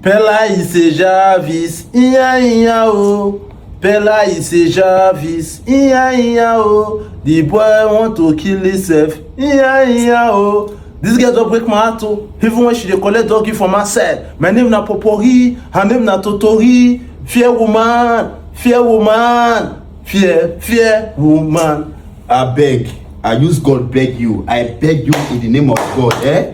Pela ise javis, iya iya o. Pela ise javis, iya iya o. The boy want to kill himself, iya iya o. This girl don break my heart o, even when she dey collect doggy for my side. My name na Popori, her name na Totori. Fear woman, fear woman, fear, fear woman. Abeg, I use God beg you. I beg you in the name of God, eh?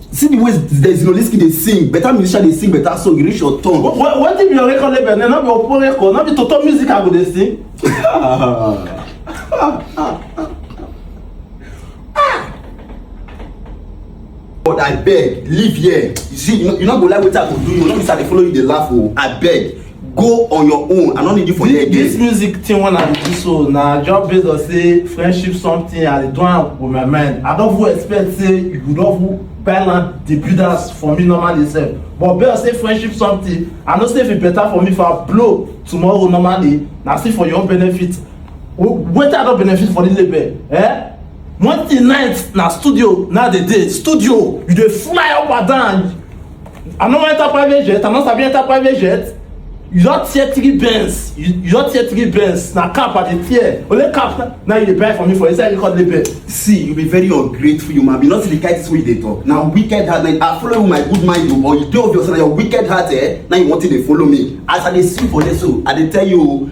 see the way Zinoleesky dey sing better musician dey sing better song e reach your turn. wetin be your record label na no be opo record no be toto music i go dey sing. but abeg leave here you see you no go like wetin i go do you no be say i dey follow you dey laugh o oh. abeg. go on your own i no need you for here this again music thing wey i dey do so na just based on say friendship something i dey do am with my mind i don even expect say you go don even buy land dey build house for me normally sef but based on say friendship something i know say if e better for me if i blow tomorrow normally na still for your own benefit W- wetin i don benefit for this label eh one thing night na studio na dey dey studio you dey fly up and down I no wan enter private jet, I no sabi enter private jet. You don tear three Benz, you, you don tear three Benz, na cap I dey tear. Only cap na, na you dey buy for me for inside record label. See, you be very ungrateful human being. Not the kind things wey you dey talk. Na wicked heart. Na I follow you my good mind o, but you dey obvious na your wicked heart eh. Na you want to dey follow me. As I dey see you for there so, I dey tell you o.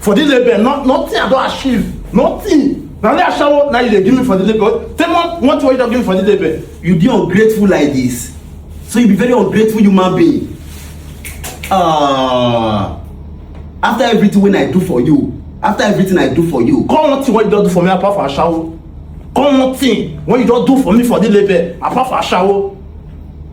for this label not nothing i don achieve nothing na only ashawo na you dey give me for this label tell me what what you don give me for this label. you dey ungrateful like this so you be very ungrateful human being uh, after everything wey i do for you after everything i do for you come one thing wey you don do for me apart from ashawo come one thing wey you don do for me for this label apart from ashawo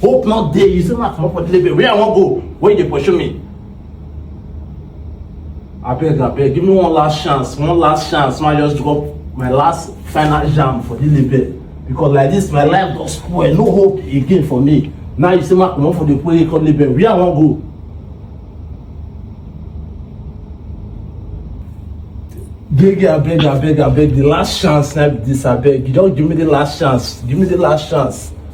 hope not dey you say ma comot for delivery where i wan go where you dey pursue me abeg abeg give me one last chance one last chance ma just drop my last final jam for delivery because like this my life don spoil no hope again for me now you say ma comot for the play come delivery where i wan go Beg, abeg, abeg, abeg, the last chance, not this, abeg. You don't give me the last chance. Give me the last chance.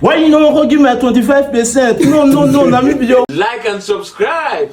Why you no wan come give me my twenty-five percent? No, no, no, na me be your. Like and subscribe.